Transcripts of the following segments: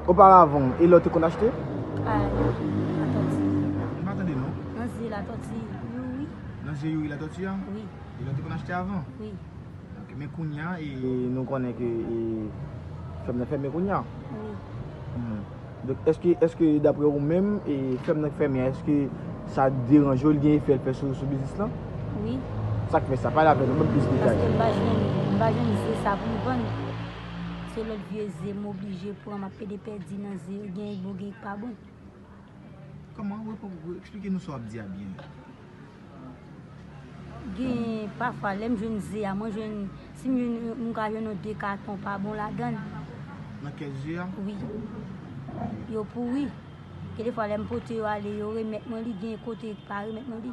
Oparavan, e lè w te konn achte? A. Latòti. M pa tande non. Nan zye Latòti Youri. Nan zye Youri Latòti an? Wi. E lè w te konn achte avan? Wi. Ok, men kounya e nou konnen ke e fèm nan fèmen kounya? Wi. Donk èske, èske daprè ou menm e fèm nan k fèmen an èske sa deranje w, li gen efè l fè sou biznis lan? Wi. Sa k fè sa? Pale avè nou bann plis detay. Paske m pa jwenn, m pa jwenn zye sa pou m vann. Se lòt vye ze m oblije pran, m ap pede pèdi nan ze yo, gen k bon gen k pa bon. Kòman? Eksplike nou sa w ap di a byen. Genyen pafwa lè m jwenn ze a, mwen jwenn, si m jwenn yon, m ka jwenn yon de katon pa bon ladan. Nan kè ze a? Wi. Yo pouri. Gen defwa lè m pote yo ale, yo remèt mwen li, gen kote yo pa remèt mwen li.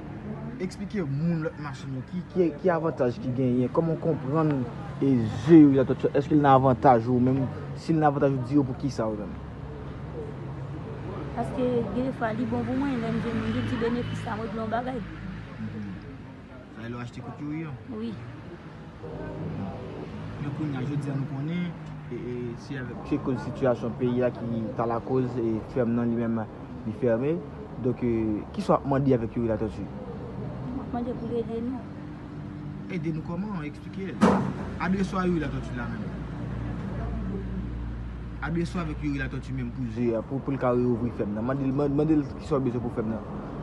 Eksplike moun lòt machin yo ki ki ki avantaj ki genyen, kòman w konprann e ze yo ki la tòt yo, èske l nan avantaj ou menm, si l nan avantaj ou di yo poukisa ou menm. Paske gen de fwa li bon pou mwen lè m vin m gen ti benefis la mwen di yon bagay. Sa e lè w achte kout youri an? Wi. Men kounya jodi a nou konnen se avèk. Se koz sitiyasyon peyi a ki ta lakoz fèm nan li menm li fèmen. Donk kisa w ap mande avèk Youri Latortue? M ap mande pou l ede nou. Ede nou kòman? Eksplike. Adrese w a Youri Latortue la menm. Adrese w avèk Youri Latortue menm pou l ka reouvri fèm nan. Mande l kisa w bezwen pou fèm nan.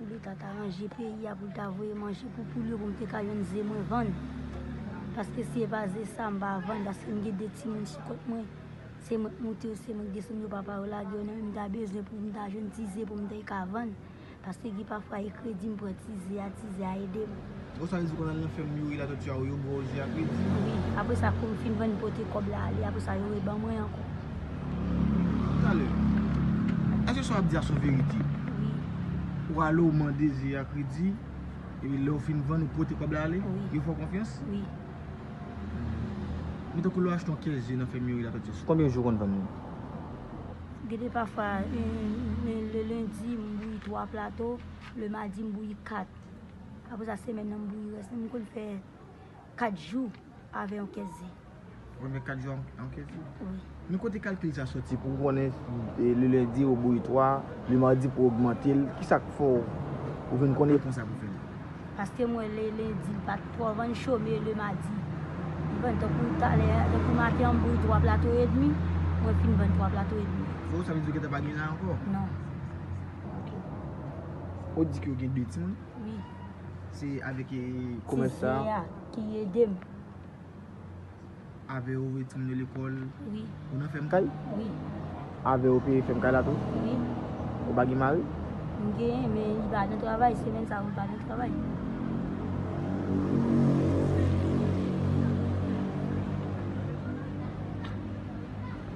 Pou leta ta ranje peyi a poul ta voye manje pou poul yo pou m te ka jwenn ze mwen vann paske si e pa ze sa m pa vann paske m gen 2 timoun sou kont mwen se mwen k moute yo se mwen k desann yo papa yo lage yo nan ri m ta bezwen pou m ta jwenn ti ze pou m te ka vann paske gen pafwa e kredi m pran ti ze a ti ze a ede m. Bon sa vle di konn al nan fèm youri latòti a ou yo bwè ozi ak redi. Wi apresa koum fin vann pote kòb la ale apresa yo reban mwen ankò. Talè. Eske sa wap di a son verite? Wi. Ou ale ou mande ze ak redi epi lèw fin vann ou pote kòb la ale? Wi. Yo fè w konfyans? Wi. Men tankou lè w achte yon kès ze nan fèm youri latòti a sou konbyen jou ou konn vann li? Gede pafwa le lendi m bouyi 3 plato, le madi m bouyi 4. Apre sa semèn nan m bouyi rès li m konn fè 4 jou avè yon kès ze. Ou konn fè 4 jou avè yon kès ze? Wi. Men kote kalkil sa soti pou ou konnen le lendi ou bouyi 3, le madi pou ogmante l, ki sa k fè w ou vin konn epon sa pou fè l? Paske m wè le lendi l pa twò vann cho men le madi li vann tankou talè a, tankou maten an m bouyi 3 plato edmi, mwen fin vann 3 plato edmi. Fò ou sa vle di ou gentan pa gen la ankò? Non. Ok. Ou di ke ou gen 2 timoun? Wi. Se avèk e komès sa? Se Zea ki ede m. Avè ou voye timoun yo lekòl? Wi. Ou nan fèm kay? Wi. Avè ou peye fèm kay la tou? Wi. Ou pa gen mari? M genyen, men li pa nan travay. Semèn sa yo li pa nan travay.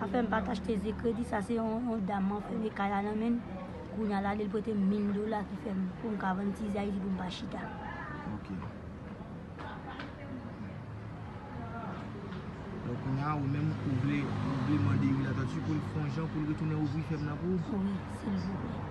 pa fèm pat achte ze kredi sa se yon dam mwen fèmen kay la nan menl kounya lale l prete m 1000 dola ki fèm poum ka vann ti ze ayiti poum pa chita. Donk kounya a ou menm ou vle ou vle mande youri latortue pou l fè yon jan pou l retounen ouvri fèm nan pou ou? Wi silvouplè.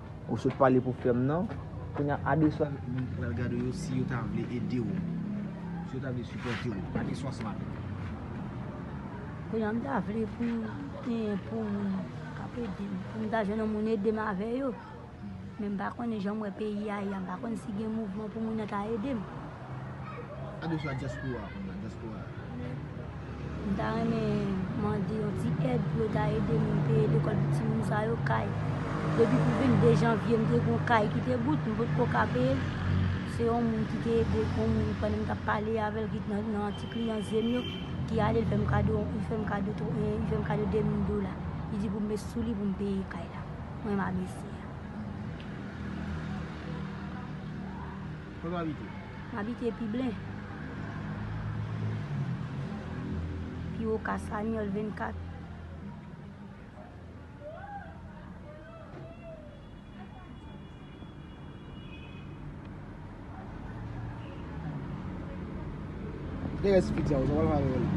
Ou sot pale pou frèm nan. Kounya adeswa moun ki pral gade w yo si yo ta vle ede w. Si yo ta vle sipòte w. Adeswa sa yo. Kounya m ta vle pou m genyen pou moun k ap ede m. Pou m ta jwenn yon moun ede m avè yo. Men m pa konnen jan m wè peyi a ye a. M pa konnen si gen mouvman pou moun nan ta ede m. Gade sa diaspora ap mande diaspora. M ta renmen mande yon ti èd pou yo ta ede m peye lekòl pou timoun sa yo, kay. Depi pou 22 janvye m te gon kay ki te bout, m pot ko ka peye l. Se yon moun ki te ede yon moun pandan m tap pale avè l ki t nan ti kliyan zen m yo ki ale l fè m kado li fè m kado 2000 dola. Li di pou m met sou li pou m peye kay la. M renma mesye a. Kote w abite? M abite Piblen. Pi wo ka Sanyòl 24. Kote rès pizza yo? Sa w pral fè avè yo la?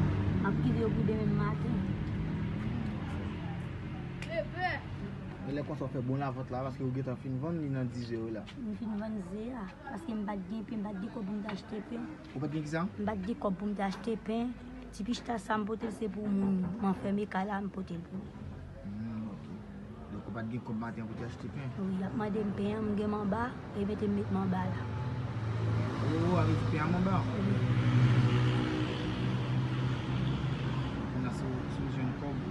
M ap kite yo pou demen maten. Lè konsa w fè bon lavant la paske ou gentan fin vann li nan dizè yo la. M fin vann ze a paske m pat gen pen, m pat gen kòb pou m te achte pen. Ou pat gen kisa? M pat gen kòb pou m te achte pen. Ti pichita sa m pote l se pou moun m anfème kay la m pote l pou li. Humm ok. Donk ou pat gen kòb maten an pou te achte pen? Wi, y ap mande m pen an, m gen manba, yo mete m met manba la. Oh, a vle di pen an manba? Wi. Kounye a si w jwenn kòb.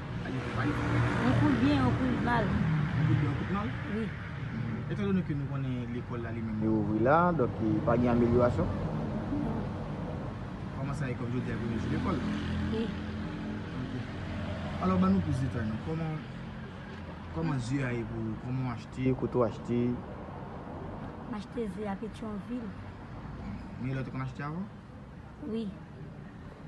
Yon kout byen, yon kout mal. Yon kout byen, yon kout mal? Wi. Etan donnen ke nou konnen lekòl la li menm li ouvri la, donk ki pa gen amelyorasyon? Non. Kòman sa ye kòm jodi a premye jou lekòl? Wi. Ok. Alò ban nou plis detay non. Kòman, kòman ze a ye pou ou? Kòman ou achte? Kote ou achte? M achte ze a Petyonvil. Men lè ou te konn achte avan? Wi.